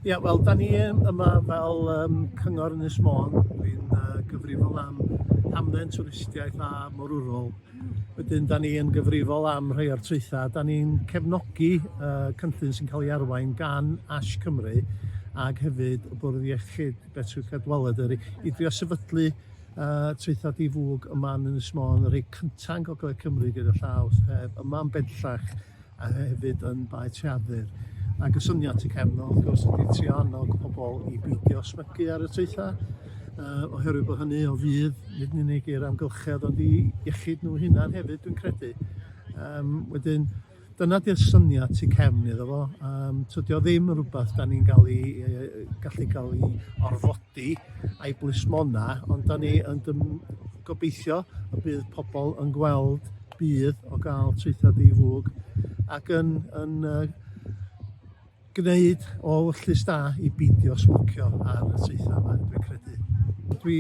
Ia, wel, da ni yma fel um, cyngor Ynys Môn, dwi'n uh, gyfrifol am hamdden twristiaeth a morwrol. Wedyn, da ni yn gyfrifol am rhai o'r traethau. Da ni'n cefnogi uh, cynllun sy'n cael ei arwain gan Ash Cymru ac hefyd y Bwrdd Iechyd Betri Cadwaladr i, i drio sefydlu uh, traethau difwg yma yn Ynys Môn, y rhai cyntaf yn Gogledd Cymru gyda llaw, sef yma yn bellach a hefyd yn Bae Treadur. Ac y syniad tu cefn o, wrth gwrs, ydy trio annog pobl i beidio smygu ar y traethau, uh, oherwydd bod hynny o fydd, nid yn unig i'r amgylchedd, ond i iechyd nhw hunan hefyd, dwi'n credu. Um, wedyn, dyna di'r syniad tu cefn iddo fo. Um, tydio ddim yn rhywbeth da ni'n gael ei, gallu cael ei orfodi di a'i blismona ond da ni yn dym gobeithio y bydd pobl yn gweld bydd o gael traethau di-fwg ac yn, yn uh, gwneud o wyllus da i beidio smocio ar y traethau yma, dwi'n credu. Dwi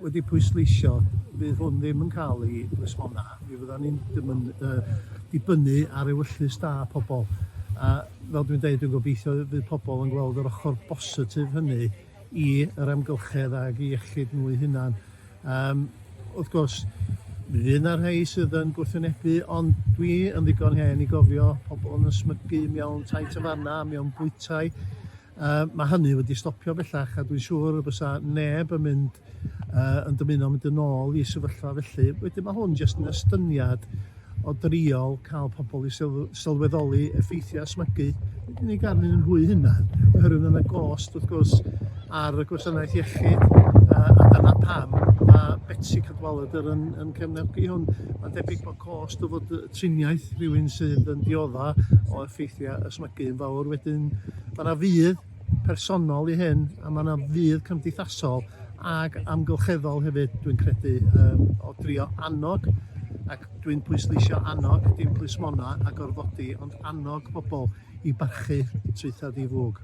wedi pwysleisio, fydd hwn ddim yn cael ei resbona. Mi fyddan ni'n dymyn, uh, dibynnu ar ewyllys da pobl. A fel dwi'n dweud, dwi'n gobeithio fydd pobl yn gweld yr ochr bositif hynny i yr amgylchedd ag i iechyd nhw'i hunan. Um, wrth gwrs, mi fydd yna rhai sydd yn gwrthwynebu, ond dwi yn ddigon hen i gofio pobl yn ysmygu mewn tai tafarna, mewn bwytai, Yy mae hynny wedi stopio bellach a dwi'n siŵr y bysa neb yn mynd yy yn dymuno mynd yn ôl i sefyllfa felly. Wedyn mae hwn jyst yn estyniad o driol cael pobl i syl- sylweddoli effeithiau smygu nid yn unig arnyn nhw eu hunain oherwydd mae yna gost wrth gwrs ar y gwasanaeth iechyd yy a dyna pam mae Betsi Cadwaladr yn yn cefnogi hwn. Mae'n debyg bod cost o fod y triniaeth rhywun sydd yn diodda o effeithiau ysmygu yn fawr wedyn mae yna fudd personol i hyn a mae yna fudd cymdeithasol ac amgylcheddol hefyd dwi'n credu um, o drio annog ac dwi'n pwysleisio annog dim plismona a gorfodi ond annog pobl i barchu trwythad i fwg.